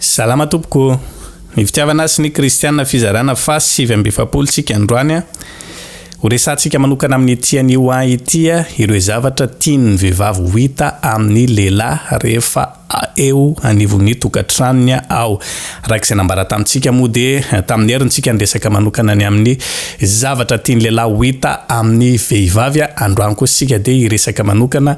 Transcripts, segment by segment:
Salama tompoko o! Ny fitiavana sy ny kristiana fizarana fas sivy amby efapolo tsika androany a! Ho resahantsika manokana amin'ny ity anio an ity a ireo zavatra tian'ny vehivavy ho hita amin'ny lehilahy rehefa eo anivon'ny tokantranony a ao araka izay nambara tamintsika moa dia tamin'ny herin tsika niresaka manokana ny amin'ny zavatra tian'ny lehilahy ho hita amin'ny vehivavy a androany kosa isika dia hiresaka manokana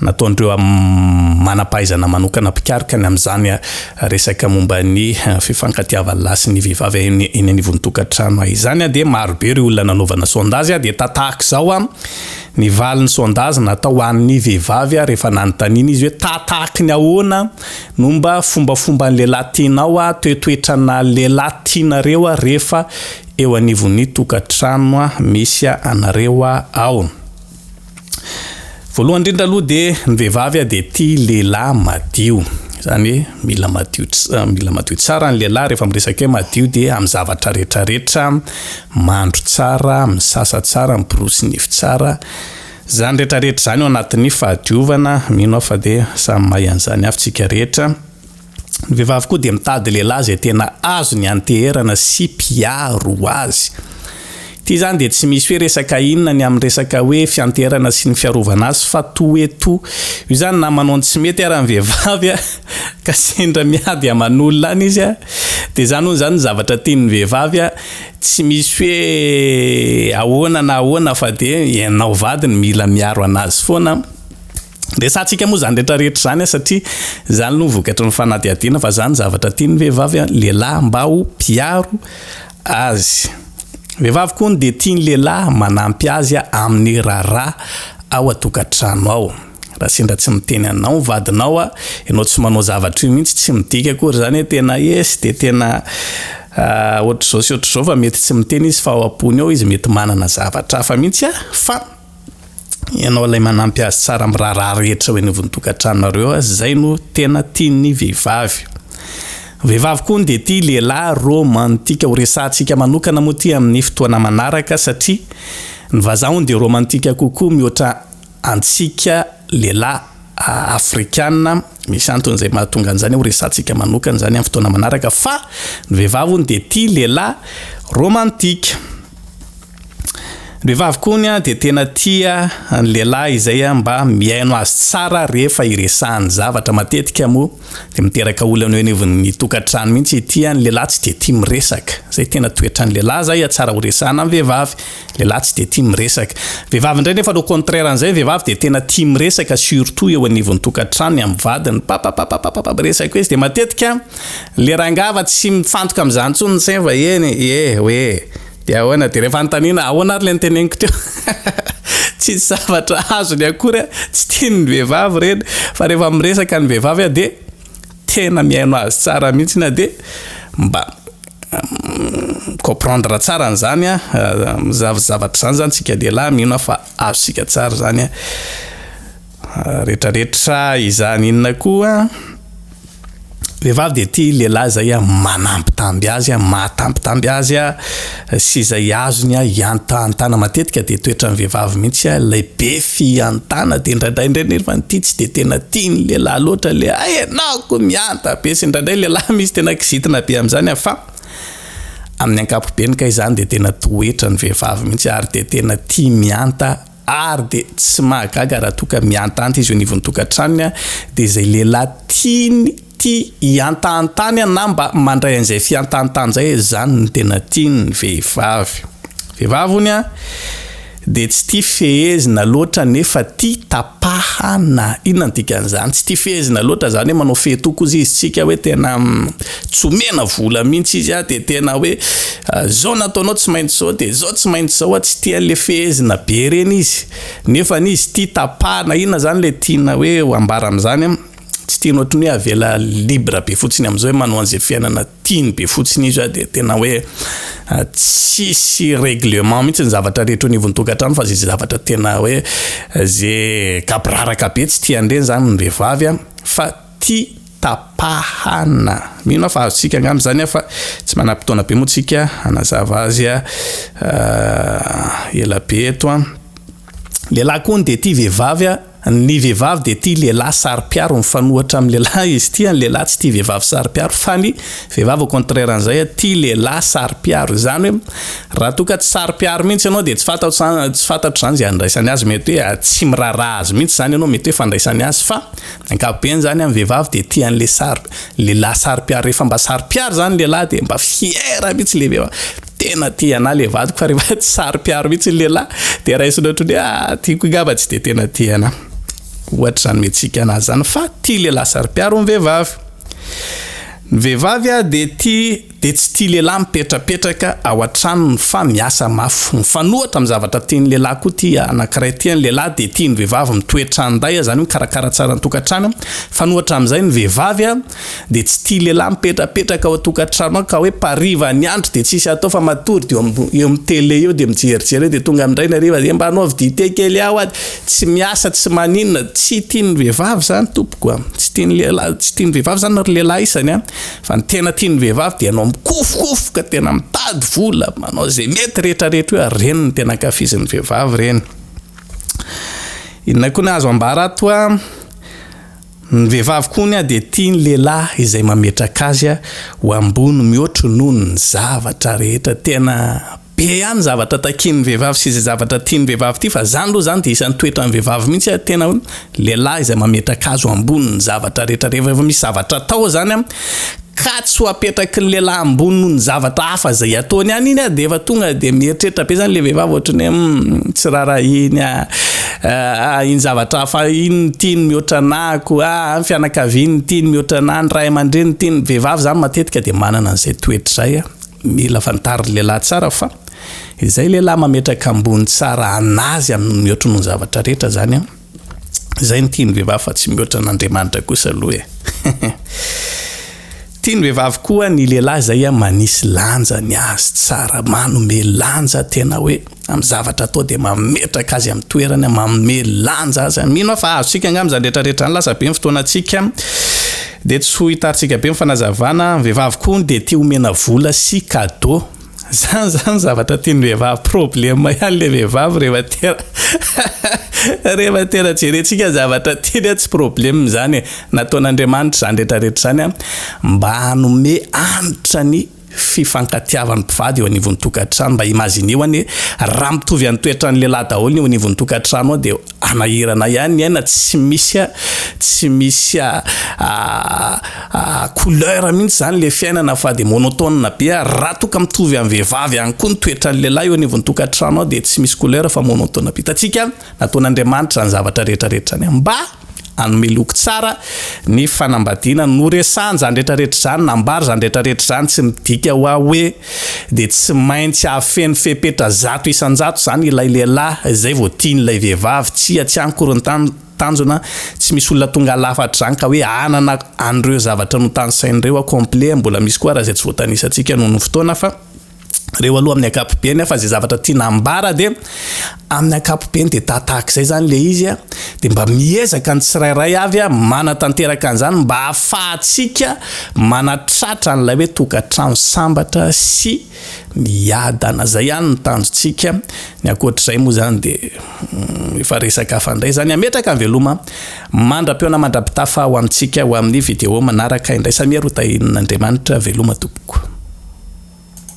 Nataon'ireo manam-pahaizana manokana mpikaroka ny amin'izany resaka momba ny fifankatiavan'ny lahy sy ny vehivavy eny anivon'ny tokantrano izany dia maro be ireo olona nanaovana sondazy dia tahaka izao ny valin'ny sondazy natao ho an'ny vehivavy rehefa nanontaniana izy hoe tahatahaky ny ahoana no mba fombafomban'ny lehilahy tianao toetoetrana lehilahy tianareo rehefa eo anivon'ny tokantrano misy anareo ao Voalohany indrindra aloha dia ny vehivavy dia tia lehilahy madio. Izany hoe mila madio mila madio tsara ny lehilahy rehefa miresaka hoe madio dia amin'ny zavatra rehetra rehetra, mandro tsara, misasa tsara, miborosy nify tsara. Izany rehetra rehetra izany ao anatin'ny fahadiovana, mino aho fa dia samy mahay an'izany avy tsika rehetra. Ny vehivavy koa dia mitady lehilahy izay tena azony anteherana sy mpiaro azy. Ity izany dia tsy misy hoe resaka inona ny amin'ny resaka hoe fianteherana sy ny fiarovana azy fa toe to. Io izany na manao ny tsy mety ara ny vehivavy a! ka sendra miady aman'olona any izy a! dia izany hono izany ny zavatra tian'ny vehivavy a! tsy misy hoe ahoana na ahoana fa dia ianao vadiny mila miaro an'azy foana. Resahantsika moa izany rehetra rehetra izany satria izany aloha ny vokatry ny fanadihadiana fa izany zavatra tian'ny vehivavy an, lehilahy mba ho mpiaro azy. Vehivavy koa ny dia tian'ny lehilahy manampy azy amin'ny raharaha ao an-tokantrano ao. Raha sendra tsy miteny anao ny vadinao a, ianao tsy manao zavatra io mihitsy, tsy midika akory izany hoe tena esy dia tena ohatr'izao sy ohatr'izao fa mety tsy miteny izy fa ao am-pony ao izy mety manana zavatra hafa mihitsy a, fa. ianao ilay manampy azy tsara amin'ny raharaha rehetra eo anivon'ny tokantranonareo azy, izay no tena tian'ny vehivavy. Ny vehivavy koa hono dia tia lehilahy romantika, ho resahantsika manokana moa ity amin'ny fotoana manaraka satria ny vazaha hono dia romantika kokoa mihoatra antsika lehilahy afrikana, misy antony izay mahatonga an'izany aho ho resahantsika manokana izany amin'ny fotoana manaraka fa ny vehivavy hono dia tia lehilahy romantika. Vehivavy koa hono dia tena tia ny lehilahy izay mba mihaino azy tsara rehefa iresahany zavatra. Matetika moa dia miteraka olana eo anivon'ny tokantrano mihitsy ity, ny lehilahy tsy dia tia miresaka. Izay tena toetran'ny lehilahy izay, tsara horesahana ny vehivavy, ny lehilahy tsy dia tia miresaka. Vehivavy indray nefa le contraire an'izay, ny vehivavy dia tena tia miresaka surtout eo anivon'ny tokantrano, ny amin'ny vadiny, papapapapapa miresaka izy. Dia matetika le rangahy fa tsy mifantoka amin'izany intsony ny sainy fa eny e, eny e, hoe. Dia ahoana, dia ilay fanontaniana ahoana ary ilay noteneniko teo? Tsisy zavatra azony akory an, tsy tiany ny vehivavy ireny, fa rehefa miresaka ny vehivavy an dia tena mihaino azy tsara mihitsy an, dia mba mi-comprendre tsara an'izany an, zavatra izany izany isika lehilahy mino aho fa azontsika tsara izany an. Retraretra izany inona koa? Vehivavy dia tia lehilahy izay manambitamby azy, mahatambitamby azy sy izay azony hiantahantana. Matetika dia toetran'ny vehivavy mihitsy ilay be fihantana dia indraindray indray nefa ity tsy dia tena tian'ny lehilahy loatra ilay hay ianao ko mihanta be sy indraindray ny lehilahy misy tena kizitina be amin'izany fa amin'ny ankapobeny kay izany dia tena toetran'ny vehivavy mihitsy ary dia tena tia mihanta Ary dia tsy mahagaga raha toa ka mihantahanty izy eo anivon'ny tokantranony dia izay lehilahy tiany tia hihantahantany na mba mandray an'izay fihantahantany izay izany no tena tiany vehivavy. Vehivavy hono dia tsy tia fehezina loatra nefa tia tapahana. Inona ny dikan'izany? Tsy tia fehezina loatra izany hoe manao fehy tokoa izy tsika hoe tena tsy omena vola mihitsy izy a, dia tena hoe zao nataonao tsy maintsy zao dia zao tsy maintsy zao a, tsy tia an'le fehezina be reny izy, nefa ny izy tia tapahana, inona zany le tiana hoe ho ambara am'zany a, tsy tiany ohatry ny hoe avela libre be fotsiny am'zao hoe manao an'ze fiainana tiany be fotsiny izy a, dia tena hoe tsisy règlement mihitsy ny zavatra rehetra eo anivon'ny tokantrano fa ze zavatra tena hoe ze gaboraraka be tsy tian'ireny zany ny vehivavy a, fa Ty tapahana. Mino aho fa azontsika angamba izany fa tsy manam-potoana be moa tsika hanazava azy ela be eto an. Lehilahy koa hono dia tia vehivavy an. Ny vehivavy dia tia lehilahy saro-piaro mifanohatra amin'ny lehilahy izy ity an. Ny lehilahy tsy tia vehivavy saro-piaro fa ny vehivavy au contraire an'izay an tia lehilahy saro-piaro. Izany hoe raha toa ka tsy saro-piaro mihitsy ianao dia tsy fantatro izany tsy fantatro izany izay andraisany azy. Mety hoe tsy miraharaha azy mihitsy izany ianao. Mety hoe fandraisany azy fa Ankapobeny zany am vehivavy de tia anle sary lehilahy sary piaro refa mba sary piaro zany lehilahy de mba fière mitsy le vehivavy tena tia anah le vadiko fa refa tsy sary piaro mitsy lehilahy de raisiny otrany hoe ah tiako ngamba tsy de tena tia anah ohatry zany mihetsika anazy zany fa tia lehilahy sary piaro ny vehivavy ny vehivavy a de tia dia tsy tia lehilahy mipetrapetraka ao an-tranony fa miasa mafy. Mifanohitra amin'ny zavatra tian'ny lehilahy koa ity anankiray ity. Ny lehilahy dia tia ny vehivavy mitoetra andahy, izany hoe mikarakara tsara ny tokantrano. Mifanohitra amin'izay ny vehivavy dia tsy tia lehilahy mipetrapetraka ao an-tokantrano ao ka hoe mpariva ny andro dia tsisy atao fa matory dia eo amin'ny tele eo dia mijerijery eo dia tonga indray ny hariva dia mba anaovy dite kely aho ady. Tsy miasa tsy maninona. Tsy tian'ny vehivavy izany tompoko a! Tsy tian'ny lehilahy, tsy tian'ny vehivavy izany ry lehilahy isany a! Fa ny tena tian'ny vehivavy dia ianao mikofokofoka tena mitady vola, manao izay mety rehetra rehetra io ary ireny no tena ankafizin'ny vehivavy ireny. Inona koa ny azo ambara ato a? Ny vehivavy koa ny a dia tia ny lehilahy izay mametraka azy ho ambony mihoatry noho ny zavatra rehetra, tena Be ihany zavatra takian'ny vehivavy sy izay zavatra tian'ny vehivavy ity fa izany aloha izany dia isan'ny toetran'ny vehivavy mihitsy an, tena hoe lehilahy izay mametraka azy ho ambonin'ny zavatra rehetra rehefa efa misy zavatra atao izany an, ka tsy ho apetraky ny lehilahy ambony noho ny zavatra hafa izay ataony ihany iny an, dia efa tonga dia mieritreritra be izany ilay vehivavy ohatran'ny hoe humm tsy raharaha iny aa, ah iny zavatra hafa iny no tiany mihoatra anah, ko ah ny fianakaviany no tiany mihoatra anah, ny ray aman-dreniny no tiany, ny vehivavy izany matetika dia manana an'izay toetra izay an. Mila fantarin'ny lehilahy tsara fa izay lehilahy mametraka ambony tsara an'azy amin'ny mihoatry ny zavatra rehetra izany an, izay no tian'ny vehivavy fa tsy mihoatra an'Andriamanitra kosa aloha e. Tian'ny vehivavy koa ny lehilahy izay manisy lanja ny azy tsara, manome lanja tena hoe. amin'ny zavatra atao dia mametraka azy amin'ny toerany, manome lanja azy. Mino aho fa azontsika angamba izany rehetra rehetra izany, lasa be ny fotoanantsika dia tsy ho hitarintsika be ny fanazavana. Ny vehivavy koa hono dia tia omena vola sy cadeau. Izany izany zavatra tian'ny vehivavy, problème ihany ilay vehivavy rehefa tena rehefa tena jerentsika ny zavatra tiany an, tsy problème izany e. Nataon'Andriamanitra izany rehetra rehetra izany mba hanome hanitra ny fifankatiavan'ny mpivady eo anivon'ny tokantrano mba imagineo anie raha mitovy any toetran'ny lehilahy daholo ny eo anivon'ny tokantrano ao dia anahirana ihany ny aina tsy misy a tsy misy a couleur mihitsy zany le fiainana fa dia monotone be a raha toa ka mitovy amin'ny vehivavy ihany koa ny toetran'ny lehilahy eo anivon'ny tokantrano ao dia tsy misy couleur fa monotone be hitantsika Nataon'Andriamanitra izany zavatra rehetra rehetra izany mba hanome loko tsara ny fanambadiana. Noresahany izany rehetra rehetra izany, nambara izany rehetra rehetra izany. Tsy midika ho ahy hoe dia tsy maintsy hahafehy ny fepetra zato isan-jato izany ilay lehilahy izay vao tiany ilay vehivavy. Tsia, tsy any akory ny tanjona. Tsy misy olona tonga lafatra izany ka hoe hanana an'ireo zavatra notanisainy ireo ao complet. Mbola misy koa ary izay tsy voatanisantsika noho ny fotoana fa. reo aloha amin'ny ankapobeny fa zay zavatra tiana ambara dia amin'ny ankapobeny dia tahataak' zay zany le izy a de mba miezaka ny tsirairay avy a manatanteraka an'izany mba hahafahantsika manatratra an'ilay hoe tokantrano sambatra sy miadana zay ihany ny tanjontsika ny ankoatr'izay moa zany de mm, efa resaka hafa indray zany ametraka ny veloma mandra-peona mandra-pitafa ho amintsika ho amin'ny video manaraka indray samia rotahin'andriamanitra veloma tompoko